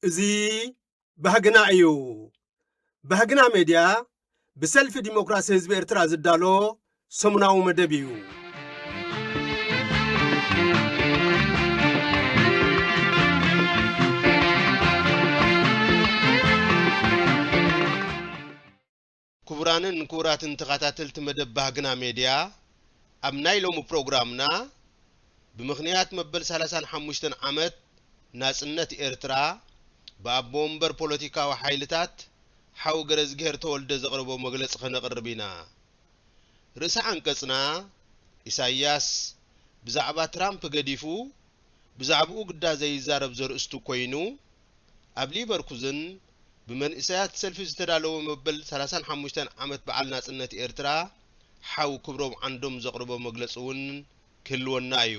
እዚ ባህግና እዩ። ባህግና ሜድያ ብሰልፊ ዲሞክራሲ ህዝቢ ኤርትራ ዝዳሎ ሰሙናዊ መደብ እዩ። ክቡራንን ክቡራትን ተኸታተልቲ መደብ ባህግና ሜድያ ኣብ ናይ ሎሚ ፕሮግራምና ብምኽንያት መበል 35 ዓመት ናጽነት ኤርትራ ብኣቦ ወንበር ፖለቲካዊ ሓይልታት ሓው ገረዝግሄር ተወልደ ዘቕርቦ መግለጺ ከነቕርብ ኢና። ርእሰ ዓንቀጽና፣ ኢሳይያስ ብዛዕባ ትራምፕ ገዲፉ ብዛዕባኡ ግዳ ዘይዛረብ ዘርእስቱ ኮይኑ፣ ኣብ ሊቨርኩዝን ብመንእሰያት ሰልፊ ዝተዳለወ መበል ሰላሳን ሓሙሽተን ዓመት በዓል ናጽነት ኤርትራ ሓው ክብሮም ዓንዶም ዘቕርቦ መግለጺ'ውን ክህልወና እዩ።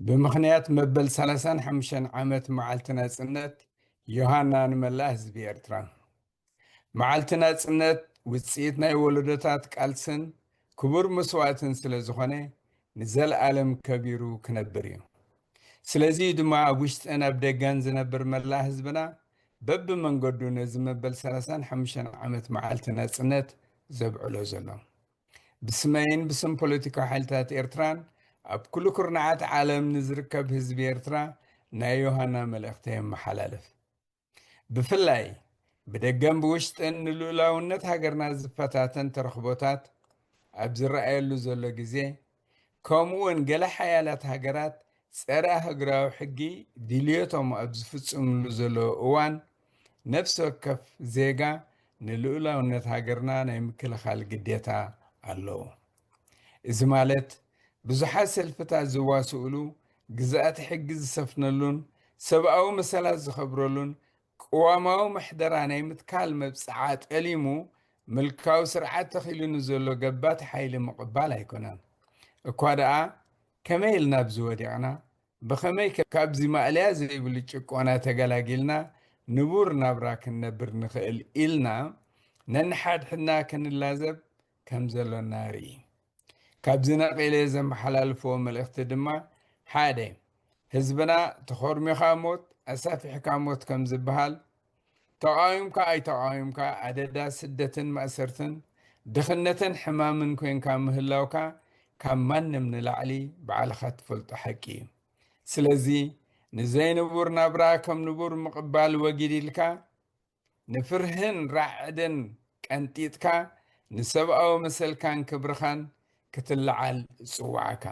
ብምኽንያት መበል ሰላሳን ሓሙሽተን ዓመት መዓልቲ ናጽነት ዮሃና ንመላእ ህዝቢ ኤርትራ። መዓልቲ ናጽነት ውጽኢት ናይ ወለዶታት ቃልስን ክቡር መስዋእትን ስለ ዝኾነ ንዘልኣለም ከቢሩ ክነብር እዩ። ስለዚ እዩ ድማ ኣብ ውሽጥን ኣብ ደገን ዝነብር መላእ ህዝብና በብመንገዱ ነዚ መበል ሰላሳን ሓሙሽተን ዓመት መዓልቲ ናጽነት ዘብዕሎ ዘሎ። ብስመይን ብስም ፖለቲካዊ ሓይልታት ኤርትራን ኣብ ኩሉ ኩርናዓት ዓለም ንዝርከብ ህዝቢ ኤርትራ ናይ ዮሃና መልእኽተ የመሓላልፍ። ብፍላይ ብደገን ብውሽጥን ንልኡላውነት ሃገርና ዝፈታተን ተረኽቦታት ኣብ ዝረኣየሉ ዘሎ ግዜ ከምኡውን ገለ ሓያላት ሃገራት ጸረ ኣህግራዊ ሕጊ ድልዮቶም ኣብ ዝፍጽምሉ ዘለዎ እዋን ነፍሲ ወከፍ ዜጋ ንልኡላውነት ሃገርና ናይ ምክልኻል ግዴታ ኣለዎ። እዚ ማለት ብዙሓት ሰልፍታት ዝዋስኡሉ፣ ግዝኣተ ሕጊ ዝሰፍነሉን ሰብኣዊ መሰላት ዝኸብረሉን ቅዋማዊ ምሕደራ ናይ ምትካል መብጽዓ ጠሊሙ ምልካዊ ስርዓት ተኺሉ ንዘሎ ገባቲ ሓይሊ ምቕባል ኣይኮነን። እኳ ደኣ ከመይ ኢልና ኣብዚ ወዲቕና? ብኸመይ ከ ካብዚ ማእለያ ዘይብሉ ጭቆና ተገላጊልና ንቡር ናብራ ክንነብር ንኽእል ኢልና ነንሓድሕድና ክንላዘብ ከም ዘሎና ንርኢ። ካብዚ ነቒለ ዘመሓላልፎ መልእኽቲ ድማ ሓደ ህዝብና ተኾርሚኻ ሞት ኣሳፊሕካ ሞት ከም ዝበሃል ተቓዊምካ ኣይተቓዊምካ ኣደዳ ስደትን ማእሰርትን ድኽነትን ሕማምን ኮንካ ምህላውካ ካብ ማንም ንላዕሊ ባዕልኻ ትፈልጦ ሓቂ እዩ። ስለዚ ንዘይንቡር ናብራ ከም ንቡር ምቕባል ወጊድ ኢልካ ንፍርህን ራዕድን ቀንጢጥካ ንሰብኣዊ መሰልካን ክብርኻን ክትለዓል እጽዋዓካ።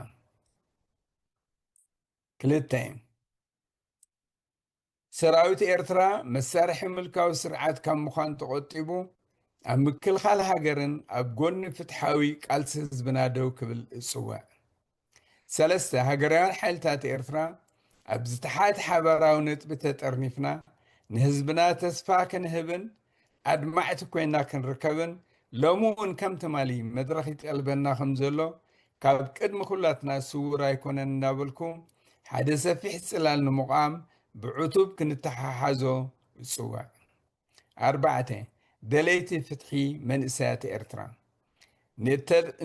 ክልተ ሰራዊት ኤርትራ መሳርሒ ምልካዊ ስርዓት ካብ ምዃን ተቖጢቡ ኣብ ምክልኻል ሃገርን ኣብ ጎኒ ፍትሓዊ ቃልሲ ህዝብና ደው ክብል እጽውዕ። ሰለስተ፣ ሃገራውያን ሓይልታት ኤርትራ ኣብ ዝተሓት ሓባራዊ ነጥቢ ተጠርኒፍና ንህዝብና ተስፋ ክንህብን ኣድማዕቲ ኮይና ክንርከብን ሎሚ እውን ከም ትማሊ መድረኽ ይጠልበና ከም ዘሎ ካብ ቅድሚ ኩላትና ስውር ኣይኮነን እናበልኩ ሓደ ሰፊሕ ጽላል ንምቛም ብዕቱብ ክንተሓሓዞ እጽዋዕ። ኣርባዕተ፣ ደለይቲ ፍትሒ መንእሰያት ኤርትራ፣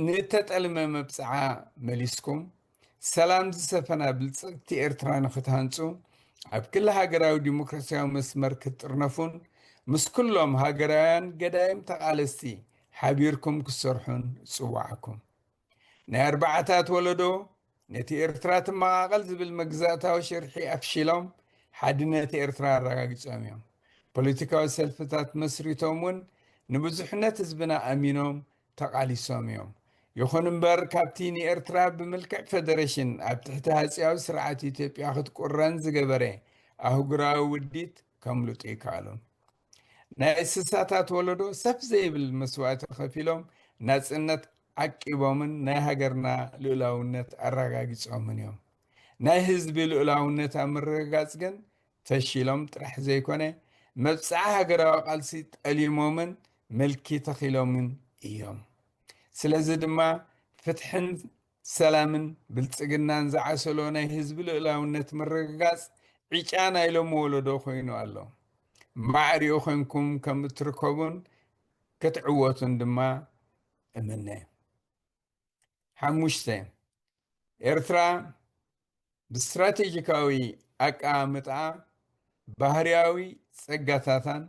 ንእተጠልመ መብጽዓ መሊስኩም፣ ሰላም ዝሰፈና ብልጽግቲ ኤርትራ ንክትሃንጹ፣ ኣብ ክሊ ሃገራዊ ዲሞክራሲያዊ መስመር ክትጥርነፉን፣ ምስ ኩሎም ሃገራውያን ገዳይም ተቓለስቲ ሓቢርኩም ክትሰርሑን እጽውዓኩም። ናይ ኣርባዓታት ወለዶ ነቲ ኤርትራ ትመቓቐል ዝብል መግዛእታዊ ሽርሒ ኣፍሺሎም ሓድነት ኤርትራ ኣረጋጊጾም እዮም። ፖለቲካዊ ሰልፍታት መስሪቶም እውን ንብዙሕነት ህዝብና ኣሚኖም ተቓሊሶም እዮም። ይኹን እምበር ካብቲ ንኤርትራ ብምልክዕ ፈደረሽን ኣብ ትሕቲ ሃጽያዊ ስርዓት ኢትዮጵያ ክትቁረን ዝገበረ ኣህጉራዊ ውዲት ከምልጡ ኣይከኣሉን። ናይ ስሳታት ወለዶ ሰፍ ዘይብል መስዋእቲ ከፊሎም ናጽነት ዓቂቦምን ናይ ሃገርና ልኡላውነት ኣረጋጊጾምን እዮም። ናይ ህዝቢ ልኡላውነት ኣብ ምርግጋጽ ግን ፈሺሎም ጥራሕ ዘይኮነ መብጽዓ ሃገራዊ ቃልሲ ጠሊሞምን ምልኪ ተኺሎምን እዮም። ስለዚ ድማ ፍትሕን ሰላምን ብልጽግናን ዝዓሰሎ ናይ ህዝቢ ልኡላውነት ምርግጋጽ ዕጫ ናይ ሎሚ ወለዶ ኮይኑ ኣሎ። ማዕሪኡ ኮንኩም ከም እትርከቡን ክትዕወቱን ድማ እምነ። ሓሙሽተ፣ ኤርትራ ብስትራቴጂካዊ ኣቀማምጣኣ፣ ባህርያዊ ጸጋታታን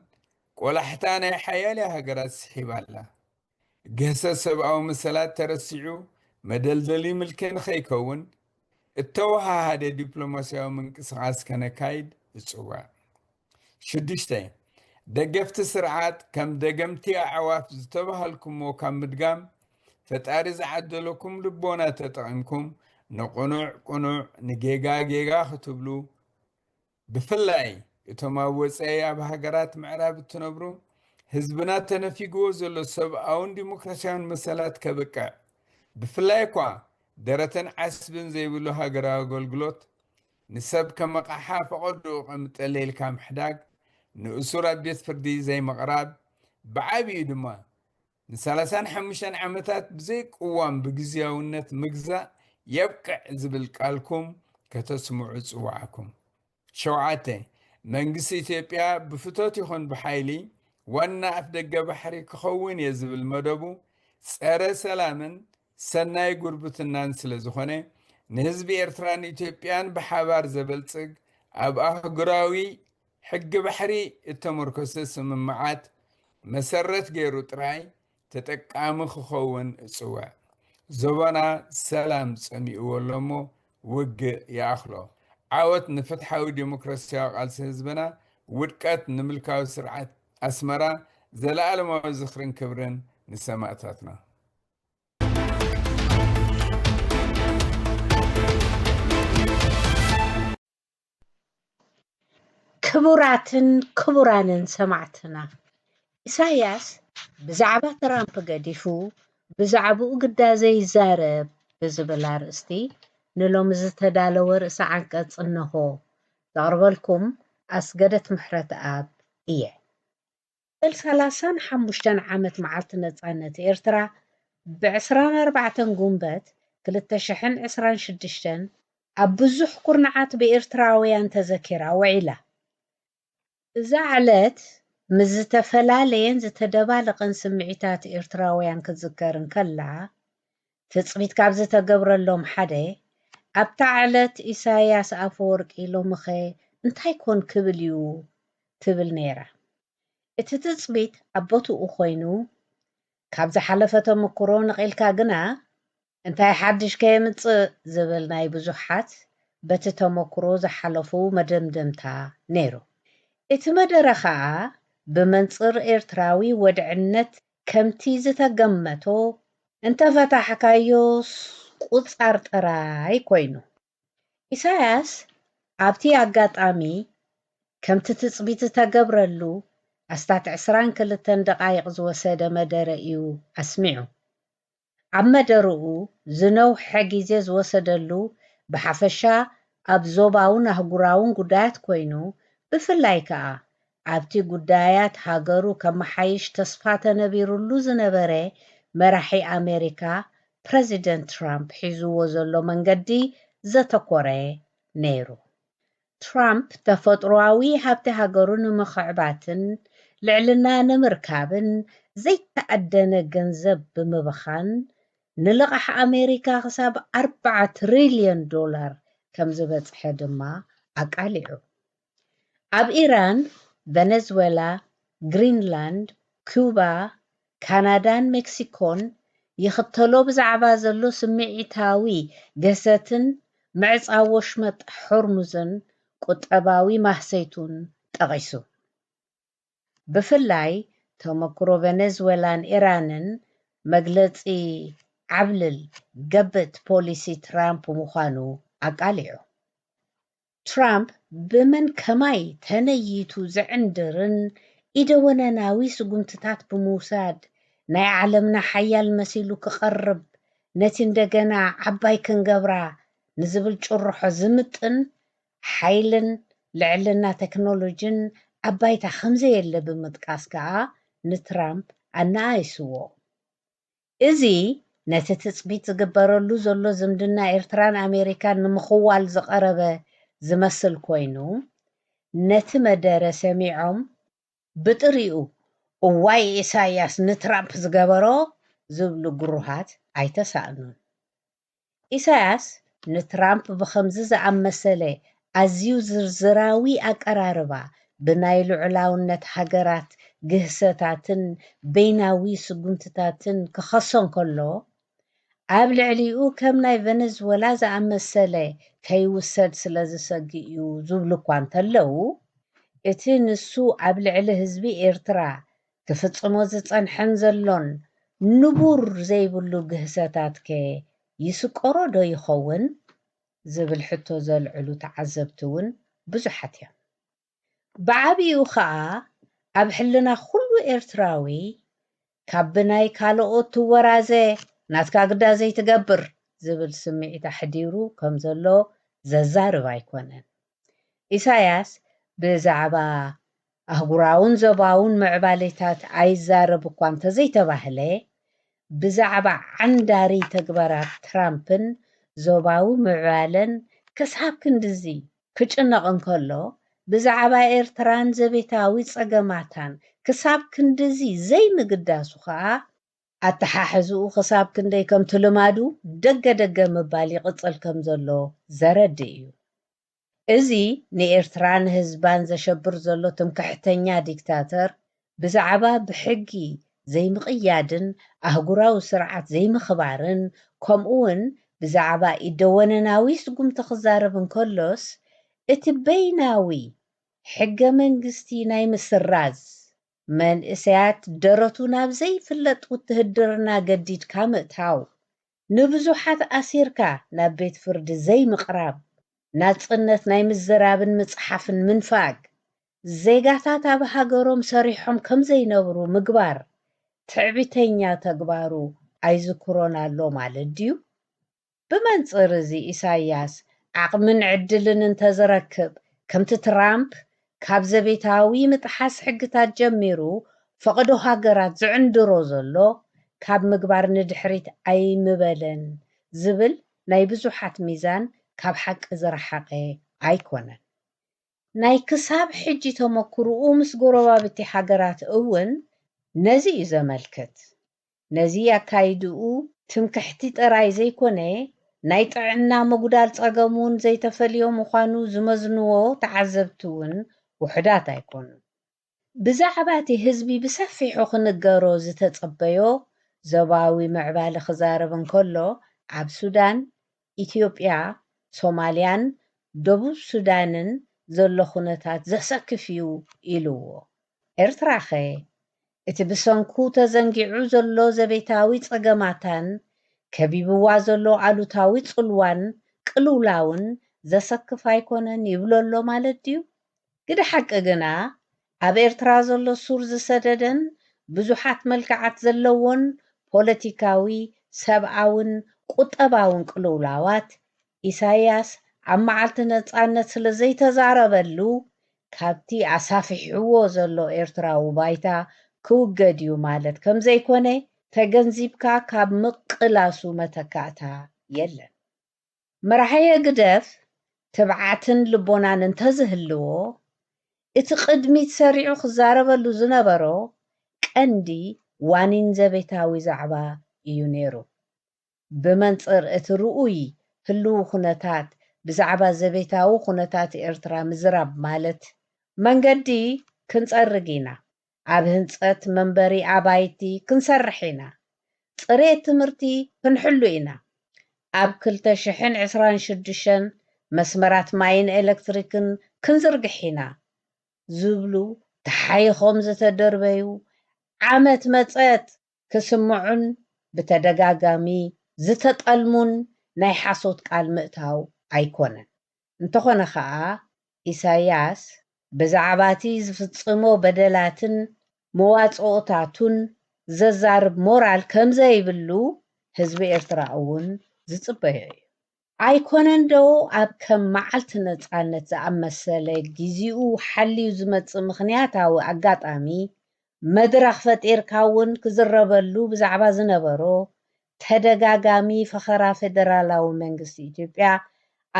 ቆላሕታ ናይ ሓያልያ ሃገራት ስሒባ ኣላ። ግህሰት ሰብኣዊ መሰላት ተረሲዑ መደልደሊ ምልኪ ንኸይከውን፣ እተወሃሃደ ዲፕሎማስያዊ ምንቅስቓስ ከነካይድ እጽውዕ። ሽዱሽተ፣ ደገፍቲ ስርዓት ከም ደገምቲ ኣዕዋፍ ዝተበሃልኩምዎ ካብ ምድጋም፣ ፈጣሪ ዝዓደለኩም ልቦና ተጠቒምኩም ንቕኑዕ ቅኑዕ ንጌጋ ጌጋ ክትብሉ፣ ብፍላይ እቶም ኣብ ወጸኢ ኣብ ሃገራት ምዕራብ እትነብሩ፣ ህዝብና ተነፊግዎ ዘሎ ሰብኣውን ዲሞክራሲያውን መሰላት ከብቅዕ፣ ብፍላይ'ኳ ደረትን ዓስብን ዘይብሉ ሃገራዊ ኣገልግሎት፣ ንሰብ ከም ኣቕሓ ፈቐድኡ ቐምጠለልካ ምሕዳግ፣ ንእሱር ኣብ ቤት ፍርዲ ዘይምቕራብ፣ ብዓቢኡ ድማ ንሳላሳን ሓሙሽተን ዓመታት ብዘይ ቅዋም ብግዝያውነት ምግዛእ የብቅዕ ዝብል ቃልኩም ከተስምዑ ጽውዓኩም። ሸውዓተ፣ መንግስቲ ኢትዮጵያ ብፍቶት ይኹን ብሓይሊ ዋና ኣፍደገ ባሕሪ ክኸውን እየ ዝብል መደቡ ጸረ ሰላምን ሰናይ ጉርብትናን ስለ ዝኾነ ንህዝቢ ኤርትራን ኢትዮጵያን ብሓባር ዘበልጽግ ኣብ ኣህጉራዊ ሕጊ ባሕሪ እተመርኮሰ ስምምዓት መሰረት ገይሩ ጥራይ ተጠቃሚ ክኸውን እጽውዕ። ዞባና ሰላም ጸሚእዎ ኣሎ እሞ ውግእ ይኣኽሎ። ዓወት ንፍትሓዊ ዲሞክራስያዊ ቃልሲ ህዝብና፣ ውድቀት ንምልካዊ ስርዓት ኣስመራ፣ ዘለኣለማዊ ዝኽርን ክብርን ንሰማእታትና። ክቡራትን ክቡራንን ሰማዕትና ኢሳያስ ብዛዕባ ትራምፕ ገዲፉ ብዛዕባኡ ግዳ ዘይዛረብ ብዝብል ኣርእስቲ ንሎሚ ዝተዳለወ ርእሰ ዓንቀጽ እነሆ። ዘቕርበልኩም ኣስገደት ምሕረትኣብ እየ። መበል ሰላሳን ሓሙሽተን ዓመት መዓልቲ ነጻነት ኤርትራ ብዕስራን ኣርባዕተን ጉንበት ክልተ ሽሕን ዕስራን ሽዱሽተን ኣብ ብዙሕ ኩርናዓት ብኤርትራውያን ተዘኪራ ውዒላ። እዛ ዕለት ምስ ዝተፈላለየን ዝተደባለቐን ስምዒታት ኤርትራውያን ክትዝከር እንከላ፣ ትጽቢት ካብ ዝተገብረሎም ሓደ፣ ኣብታ ዕለት ኢሳይያስ ኣፈወርቂ ሎሚኸ እንታይ ኮን ክብል እዩ? ትብል ነይራ። እቲ ትጽቢት ኣብ ቦትኡ ኮይኑ፣ ካብ ዝሓለፈ ተመኩሮ ነቒልካ ግና፣ እንታይ ሓድሽ ከየምጽእ ዝብል ናይ ብዙሓት በቲ ተመኩሮ ዝሓለፉ መደምደምታ ነይሩ። እቲ መደረ ከኣ ብመንጽር ኤርትራዊ ወድዕነት ከምቲ ዝተገመቶ እንተፈታሕካዮስ ቁጻር ጥራይ ኮይኑ። ኢሳያስ ኣብቲ ኣጋጣሚ ከምቲ ትጽቢት ዝተገብረሉ ኣስታት ዕስራን ክልተን ደቓይቕ ዝወሰደ መደረ እዩ ኣስሚዑ። ኣብ መደርኡ ዝነውሐ ግዜ ዝወሰደሉ ብሓፈሻ ኣብ ዞባውን ኣህጉራውን ጉዳያት ኮይኑ ብፍላይ ከኣ ኣብቲ ጉዳያት ሃገሩ ከመሓይሽ ተስፋ ተነቢሩሉ ዝነበረ መራሒ ኣሜሪካ ፕረዚደንት ትራምፕ ሒዙዎ ዘሎ መንገዲ ዘተኮረ ነይሩ። ትራምፕ ተፈጥሮኣዊ ሃብቲ ሃገሩ ንምኽዕባትን ልዕልና ንምርካብን ዘይተኣደነ ገንዘብ ብምብኻን ንልቓሕ ኣሜሪካ ክሳብ ኣርብዓ ትሪልዮን ዶላር ከምዝበፅሐ ድማ ኣቃሊዑ። ኣብ ኢራን፣ ቨነዝወላ፣ ግሪንላንድ፣ ኩባ፣ ካናዳን ሜክሲኮን ይኽተሎ ብዛዕባ ዘሎ ስምዒታዊ ገሰትን ምዕጻው ወሽመጥ ሆርሙዝን ቁጠባዊ ማህሰይቱን ጠቒሱ። ብፍላይ ተመክሮ ቨነዝወላን ኢራንን መግለጺ ዓብልል ገብት ፖሊሲ ትራምፕ ምዃኑ ኣቃሊዑ። ትራምፕ ብመን ከማይ ተነይቱ ዝዕንድርን ኢደወነናዊ ስጉምትታት ብምውሳድ ናይ ዓለምና ሓያል መሲሉ ክቐርብ ነቲ እንደገና ዓባይ ክንገብራ ንዝብል ጭርሖ ዝምጥን ሓይልን ልዕልና ተክኖሎጂን ኣብ ባይታ ከምዘየለ ብምጥቃስ ከኣ ንትራምፕ ኣነኣኢስዎ። እዚ ነቲ ትጽቢት ዝግበረሉ ዘሎ ዝምድና ኤርትራን ኣሜሪካን ንምኽዋል ዝቐረበ ዝመስል ኮይኑ፣ ነቲ መደረ ሰሚዖም ብጥሪኡ እዋይ ኢሳይያስ ንትራምፕ ዝገበሮ ዝብሉ ግሩሃት ኣይተሳእኑን። ኢሳያስ ንትራምፕ ብኸምዚ ዝኣመሰለ ኣዝዩ ዝርዝራዊ ኣቀራርባ ብናይ ልዑላውነት ሃገራት ግህሰታትን በይናዊ ስጉምትታትን ክኸሶ እንከሎ፣ ኣብ ልዕሊኡ ከም ናይ ቨነዝወላ ዝኣመሰለ ከይውሰድ ስለ ዝሰግእ'ዩ ዝብሉ'ኳ እንተለዉ፣ እቲ ንሱ ኣብ ልዕሊ ህዝቢ ኤርትራ ክፍጽሞ ዝጸንሐን ዘሎን ንቡር ዘይብሉ ግህሰታትከ ይስቆሮ ዶ ይኸውን? ዝብል ሕቶ ዘልዕሉ ተዓዘብቲ እውን ብዙሓት እዮም። ብዓቢኡ ከኣ ኣብ ሕልና ኩሉ ኤርትራዊ ካብ ብናይ ካለኦት ትወራዘ ናትካ ግዳ ዘይትገብር ዝብል ስምዒት ኣሕዲሩ ከም ዘሎ ዘዛርብ ኣይኮነን። ኢሳያስ ብዛዕባ ኣህጉራውን ዞባውን ምዕባሌታት ኣይዛረብ እኳ እንተዘይተባህለ፣ ብዛዕባ ዓንዳሪ ተግባራት ትራምፕን ዞባዊ ምዕባለን ክሳብ ክንድዚ ክጭነቕ እንከሎ፣ ብዛዕባ ኤርትራን ዘቤታዊ ጸገማታን ክሳብ ክንድዚ ዘይምግዳሱ ከኣ ኣተሓሕዝኡ ክሳብ ክንደይ ከምቲ ልማዱ ደገ ደገ ምባል ይቕጽል ከም ዘሎ ዘረድእ እዩ። እዚ ንኤርትራን ህዝባን ዘሸብር ዘሎ ትምክሕተኛ ዲክታተር ብዛዕባ ብሕጊ ዘይምቕያድን ኣህጉራዊ ስርዓት ዘይምኽባርን ከምኡውን ብዛዕባ ኢደወነናዊ ስጉምቲ ክዛረብ እንከሎስ እቲ በይናዊ ሕገ መንግስቲ ናይ ምስራዝ መንእሰያት ደረቱ ናብ ዘይፍለጥ ውትህድርና ገዲድካ ምእታው፣ ንብዙሓት ኣሲርካ ናብ ቤት ፍርዲ ዘይምቕራብ፣ ናጽነት ናይ ምዝራብን ምጽሓፍን ምንፋግ፣ ዜጋታት ኣብ ሃገሮም ሰሪሖም ከም ዘይነብሩ ምግባር፣ ትዕቢተኛ ተግባሩ ኣይዝክሮን ኣሎ ማለት ድዩ? ብመንጽር እዚ ኢሳይያስ ዓቕምን ዕድልን እንተዝረክብ ከምቲ ትራምፕ ካብ ዘቤታዊ ምጥሓስ ሕግታት ጀሚሩ ፈቐዶ ሃገራት ዝዕንድሮ ዘሎ ካብ ምግባር ንድሕሪት ኣይምበለን ዝብል ናይ ብዙሓት ሚዛን ካብ ሓቂ ዝረሓቐ ኣይኮነን። ናይ ክሳብ ሕጂ ተመኩርኡ ምስ ጎረባብቲ ሃገራት እውን ነዚ እዩ ዘመልክት። ነዚ ኣካይድኡ ትምክሕቲ ጥራይ ዘይኮነ ናይ ጥዕና ምጉዳል ጸገም ውን ዘይተፈልዮ ምዃኑ ዝመዝንዎ ተዓዘብቲ ውን ውሑዳት ኣይኮኑን። ብዛዕባቲ ህዝቢ ብሰፊሑ ክንገሮ ዝተጸበዮ ዞባዊ ምዕባሊ ክዛረብ እንከሎ ኣብ ሱዳን ኢትዮጵያ፣ ሶማልያን ደቡብ ሱዳንን ዘሎ ኩነታት ዘሰክፍ'ዩ ኢሉዎ። ኤርትራ'ኸ? እቲ ብሰንኩ ተዘንጊዑ ዘሎ ዘቤታዊ ጸገማታን ከቢብዋ ዘሎ ኣሉታዊ ጽልዋን ቅልውላውን ዘሰክፍ ኣይኮነን ይብሎ'ሎ ማለት ድዩ? ግደ ሓቂ ግና ኣብ ኤርትራ ዘሎ ሱር ዝሰደደን ብዙሓት መልክዓት ዘለዎን ፖለቲካዊ፣ ሰብኣውን ቁጠባውን ቅልውላዋት፣ ኢሳይያስ ኣብ መዓልቲ ነጻነት ስለ ዘይተዛረበሉ ካብቲ ኣሳፊሕዎ ዘሎ ኤርትራዊ ባይታ ክውገድ'ዩ ማለት ከም ዘይኮነ ተገንዚብካ ካብ ምቅላሱ መተካእታ የለን። መራሒ ህግደፍ ትብዓትን ልቦናን እንተዝህልዎ፣ እቲ ቅድሚት ሰሪዑ ክዛረበሉ ዝነበሮ ቀንዲ ዋኒን ዘቤታዊ ዛዕባ እዩ ነይሩ። ብመንጽር እቲ ርኡይ ህልዊ ኩነታት ብዛዕባ ዘቤታዊ ኩነታት ኤርትራ ምዝራብ ማለት፣ መንገዲ ክንጸርግ ኢና፣ ኣብ ህንፀት መንበሪ ኣባይቲ ክንሰርሕ ኢና፣ ፅሬት ትምህርቲ ክንሕሉ ኢና፣ ኣብ ክልተ ሽሕን ዕስራን ሽዱሽተን መስመራት ማይን ኤሌክትሪክን ክንዝርግሕ ኢና ዝብሉ ተሓይኾም ዝተደርበዩ ዓመት መፀት ክስምዑን ብተደጋጋሚ ዝተጠልሙን ናይ ሓሶት ቃል ምእታው ኣይኮነን። እንተኾነ ከኣ ኢሳያስ ብዛዕባቲ ዝፍጽሞ በደላትን መዋጽኦታቱን ዘዛርብ ሞራል ከምዘይብሉ ህዝቢ ኤርትራ እውን ዝጽበዮ እዩ። ኣይኮነንዶ ኣብ ከም መዓልቲ ነጻነት ዝኣመሰለ ጊዚኡ ሓልዩ ዝመጽእ ምኽንያታዊ ኣጋጣሚ መድረኽ ፈጢርካ እውን ክዝረበሉ ብዛዕባ ዝነበሮ ተደጋጋሚ ፈኸራ ፌደራላዊ መንግስቲ ኢትዮጵያ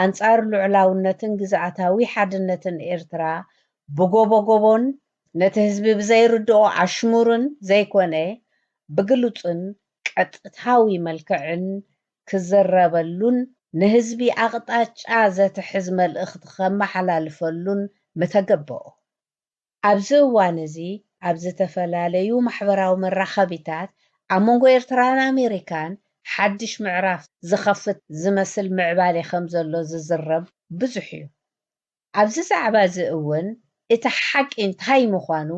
ኣንጻር ልዑላውነትን ግዝኣታዊ ሓድነትን ኤርትራ ብጎቦጎቦን፣ ነቲ ህዝቢ ብዘይርድኦ ኣሽሙርን ዘይኮነ ብግሉጽን ቀጥታዊ መልክዕን ክዝረበሉን ንህዝቢ ኣቕጣጫ ዘትሕዝ መልእኽቲ ከመሓላልፈሉን ምተገበኦ። ኣብዚ እዋን እዚ ኣብ ዝተፈላለዩ ማሕበራዊ መራኸቢታት ኣብ መንጎ ኤርትራን ኣሜሪካን ሓድሽ ምዕራፍ ዝኸፍት ዝመስል ምዕባሌ ከምዘሎ ዝዝረብ ብዙሕ እዩ። ኣብዚ ዛዕባ እዚ እውን እቲ ሓቂ እንታይ ምዃኑ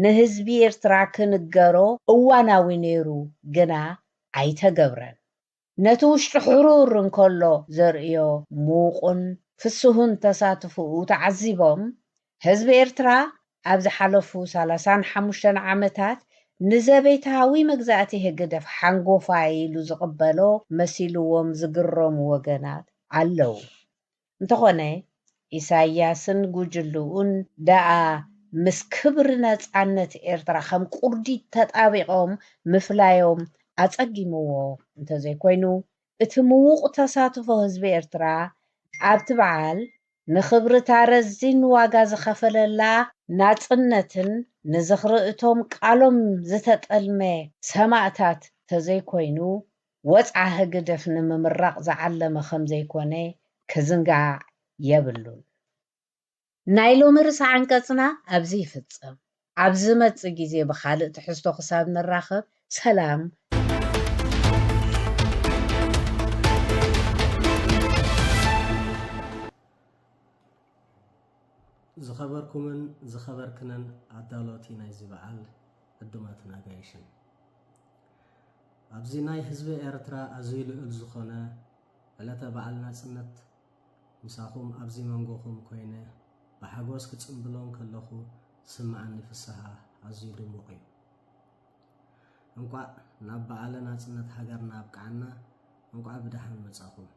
ንህዝቢ ኤርትራ ክንገሮ እዋናዊ ነይሩ ግና ኣይተገብረን። ነቲ ውሽጡ ሕሩር እንከሎ ዘርእዮ ምዉቑን ፍስሁን ተሳትፎኡ ተዓዚቦም፣ ህዝቢ ኤርትራ ኣብ ዝሓለፉ ሰላሳን ሓሙሽተን ዓመታት ንዘቤታዊ መግዛእቲ ህግደፍ ሓንጎፋይ ኢሉ ዝቕበሎ መሲልዎም ዝግረሙ ወገናት ኣለዉ። እንተኾነ ኢሳይያስን ጉጅልኡን ደኣ ምስ ክብሪ ነጻነት ኤርትራ ከም ቁርዲድ ተጣቢቖም ምፍላዮም ኣጸጊምዎ እንተዘይኮይኑ፣ እቲ ምዉቕ ተሳትፎ ህዝቢ ኤርትራ ኣብቲ በዓል ንኽብርታ ረዚን ዋጋ ዝኸፈለላ፣ ናጽነትን ንዝኽሪ እቶም ቃሎም ዝተጠልመ ሰማእታት ተዘይኮይኑ ወጽዓ ህግደፍ ንምምራቕ ዝዓለመ ከምዘይኮነ ክዝንጋዕ የብሉን። ናይ ሎሚ ርእሰ ዓንቀጽና ኣብዚ ይፍጸም። ኣብ ዝመጽእ ግዜ ብኻልእ ትሕዝቶ ክሳብ ንራኸብ ሰላም። ዝኸበርኩምን ዝኸበርክንን ኣዳለውቲ ናይዚ በዓል ዕዱማትን ኣጋይሽን፣ ኣብዚ ናይ ህዝቢ ኤርትራ ኣዝዩ ልዑል ዝኾነ ዕለተ በዓል ናጽነት ምሳኹም ኣብዚ መንጎኹም ኮይነ ብሓጎስ ክጽምብሎ እንከለኹ ዝስምዓኒ ፍስሃ ኣዝዩ ድሙቕ እዩ። እንቋዕ ናብ በዓለ ናጽነት ሃገርና ኣብቅዓና እንቋዕ ብደሓን መጻኹም።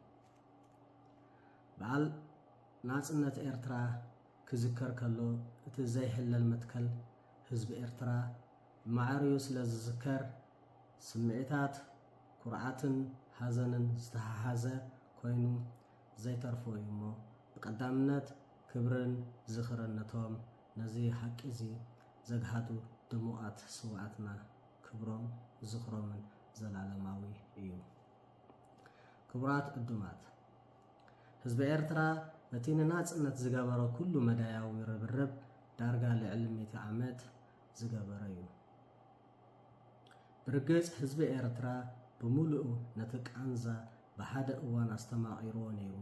በዓል ናጽነት ኤርትራ ክዝከር ከሎ እቲ ዘይሕለል መትከል ህዝቢ ኤርትራ ማዕሪኡ ስለ ዝዝከር፣ ስምዒታት ኩርዓትን ሓዘንን ዝተሓሓዘ ኮይኑ ዘይተርፎ እዩ እሞ፣ ብቀዳምነት ክብርን ዝኽርን ነቶም ነዚ ሓቂ'ዚ ዘግሃዱ ድሙቓት ስውኣትና፣ ክብሮም ዝኽሮምን ዘላለማዊ እዩ። ክቡራት ዕዱማት፣ ህዝቢ ኤርትራ ነቲ ንናጽነት ዝገበሮ ኩሉ መዳያዊ ርብርብ ዳርጋ ልዕሊ ሚእቲ ዓመት፣ ዝገበረ ዩ። ብርግጽ ህዝቢ ኤርትራ ብምሉኡ ነቲ ቃንዛ ብሓደ እዋን ኣስተማቒርዎ ነይሩ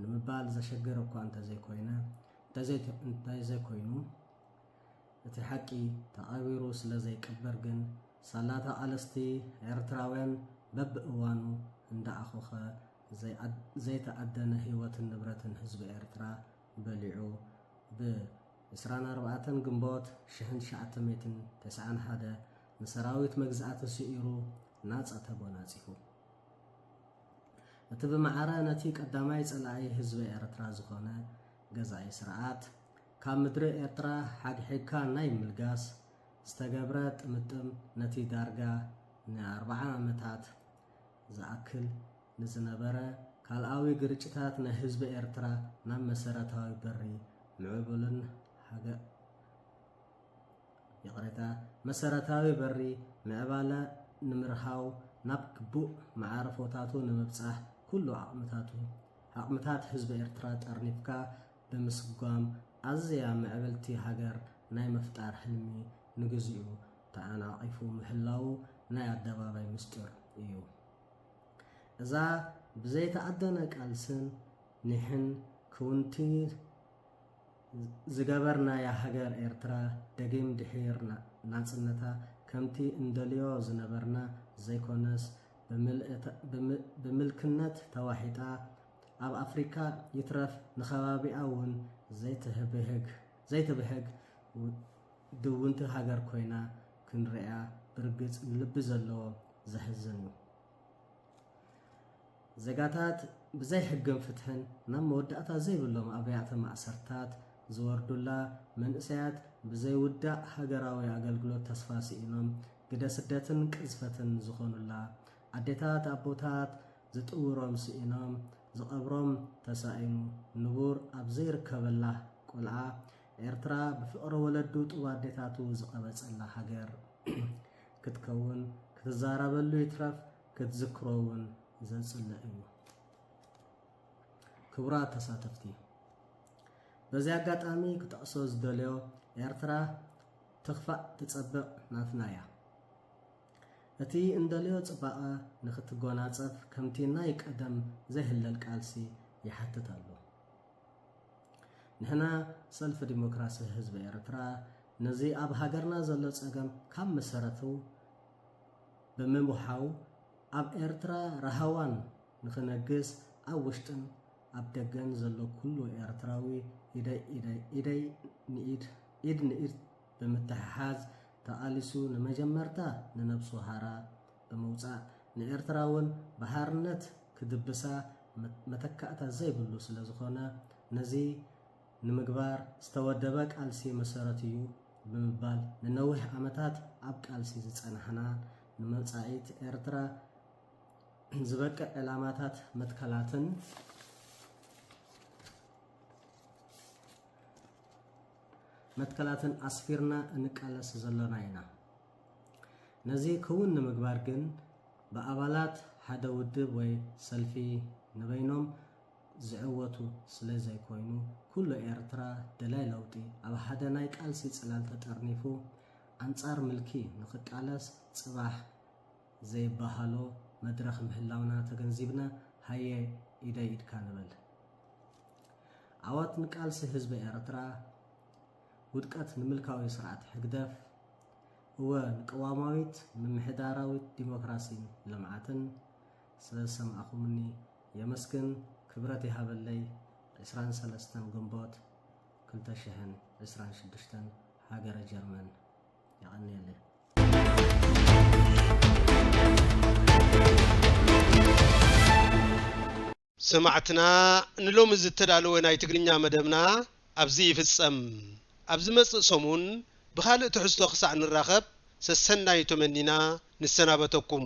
ንምባል ዘሸግር እኳ እንተዘይኮይነ እንተዘይኮይኑ እቲ ሓቂ ተቐቢሩ ስለ ዘይቅበር ግን ሳላ ተቓለስቲ ኤርትራውያን በብእዋኑ እንዳኣኾኸ ዘይተኣደነ ህይወትን ንብረትን ህዝቢ ኤርትራ በሊዑ ብ ዕስራን ኣርባዕተን ግንቦት ሽሕን ትሽዓተ ሚእትን ተስዓን ሓደ ንሰራዊት መግዛእቲ ስዒሩ ናጻ ተጎናጺፉ። እቲ ብማዕረ ነቲ ቀዳማይ ጸላኢ ህዝቢ ኤርትራ ዝኾነ ገዛኢ ስርዓት ካብ ምድሪ ኤርትራ ሓግሒግካ ናይ ምልጋስ ዝተገብረ ጥምጥም ነቲ ዳርጋ ንኣርብዓ ዓመታት ዝኣክል ንዝነበረ ካልኣዊ ግርጭታት ናይ ህዝቢ ኤርትራ ናብ መሰረታዊ በሪ ምዕቡልን ሃገ ይቕሬታ መሰረታዊ በሪ ምዕባለ ንምርሃው ናብ ግቡእ መዓርፎታቱ ንምብጻሕ ኩሉ ዓቕምታቱ ዓቕምታት ህዝቢ ኤርትራ ጠርኒፍካ ብምስጓም ኣዝያ ምዕብልቲ ሃገር ናይ ምፍጣር ህልሚ ንግዚኡ ተዓናቒፉ ምህላዉ ናይ ኣደባባይ ምስጢር እዩ። እዛ ብዘይተኣደነ ቃልስን ኒሕን ክውንቲ ዝገበርናያ ሃገር ኤርትራ ደጊም ድሒር ናጽነታ ከምቲ እንደልዮ ዝነበርና ዘይኮነስ ብምልክነት ተዋሒጣ ኣብ ኣፍሪቃ ይትረፍ ንከባቢኣ ውን ዘይትብህግ ዘይትብህግ ድውንቲ ሃገር ኮይና ክንርእያ ብርግጽ ንልቢ ዘለዎ ዘሕዝን እዩ። ዜጋታት ብዘይ ሕግን ፍትሕን ናብ መወዳእታ ዘይብሎም ኣብያተ ማእሰርታት ዝወርዱላ፣ መንእሰያት ብዘይውዳእ ሃገራዊ ኣገልግሎት ተስፋ ስኢኖም ግደ ስደትን ቅዝፈትን ዝኾኑላ፣ ኣዴታት ኣቦታት ዝጥውሮም ስኢኖም፣ ዝቐብሮም ተሳኢኑ ንቡር ኣብ ዘይርከበላ ቆልዓ ኤርትራ ብፍቕሪ ወለዱ ጡብ ኣዴታቱ ዝቐበጸላ ሃገር ክትከውን ክትዛረበሉ ይትረፍ ክትዝክሮ እውን ዘጽልእ እዩ። ክቡራት ተሳተፍቲ በዚ ኣጋጣሚ ክጠቕሶ ዝደልዮ ኤርትራ ትኽፋእ ትጸብቕ ናትና እያ። እቲ እንደልዮ ጽባቐ ንክትጎናጸፍ ከምቲ ናይ ቀደም ዘይህለል ቃልሲ ይሓትት ኣሎ። ንሕና ሰልፊ ዲሞክራሲ ህዝቢ ኤርትራ ነዚ ኣብ ሃገርና ዘሎ ጸገም ካብ መሰረቱ ብምውሓው ኣብ ኤርትራ ራሃዋን ንክነግስ ኣብ ውሽጥን ኣብ ደገን ዘሎ ኩሉ ኤርትራዊ ኢደይ ኢድ ንኢድ ብምትሕሓዝ ተቓሊሱ ንመጀመርታ ንነብሱ ሃራ ብምውጻእ ንኤርትራ ውን ብሃርነት ክድብሳ መተካእታ ዘይብሉ ስለዝኾነ ነዚ ንምግባር ዝተወደበ ቃልሲ መሰረት እዩ ብምባል ንነዊሕ ዓመታት ኣብ ቃልሲ ዝጸናሕና ንመጻኢት ኤርትራ ዝበቅዕ ዕላማታት መትከላትን መትከላትን ኣስፊርና እንቃለስ ዘሎና ኢና። ነዚ ክውን ንምግባር ግን ብኣባላት ሓደ ውድብ ወይ ሰልፊ ንበይኖም ዝዕወቱ ስለ ዘይኮይኑ ኩሉ ኤርትራ ደላይ ለውጢ ኣብ ሓደ ናይ ቃልሲ ጽላል ተጠርኒፉ ኣንጻር ምልኪ ንክቃለስ ጽባሕ ዘይባሃሎ መድረኽ ምህላውና ተገንዚብና ሃየ ኢደይ ኢድካ ንበል። ዓወት ንቃልሲ ህዝቢ ኤርትራ፣ ውድቀት ንምልካዊ ስርዓት ሕግደፍ፣ እወ ንቅዋማዊት ምምሕዳራዊት ዲሞክራሲን ልምዓትን። ስለ ዝሰማዕኹምኒ የመስግን ክብረት ይሃበለይ ዕስራን ሰለስተን ግንቦት ክልተ ሽሕን ዕስራን ሽዱሽተን ሃገረ ጀርመን። የቀንየለይ። ሰማዕትና ንሎሚ ዝተዳለወ ናይ ትግርኛ መደብና ኣብዚ ይፍጸም። ኣብ ዝመጽእ ሰሙን ብኻልእ ትሕዝቶ ክሳዕ ንራኸብ ሰሰናዩ ተመኒና ንሰናበተኩም።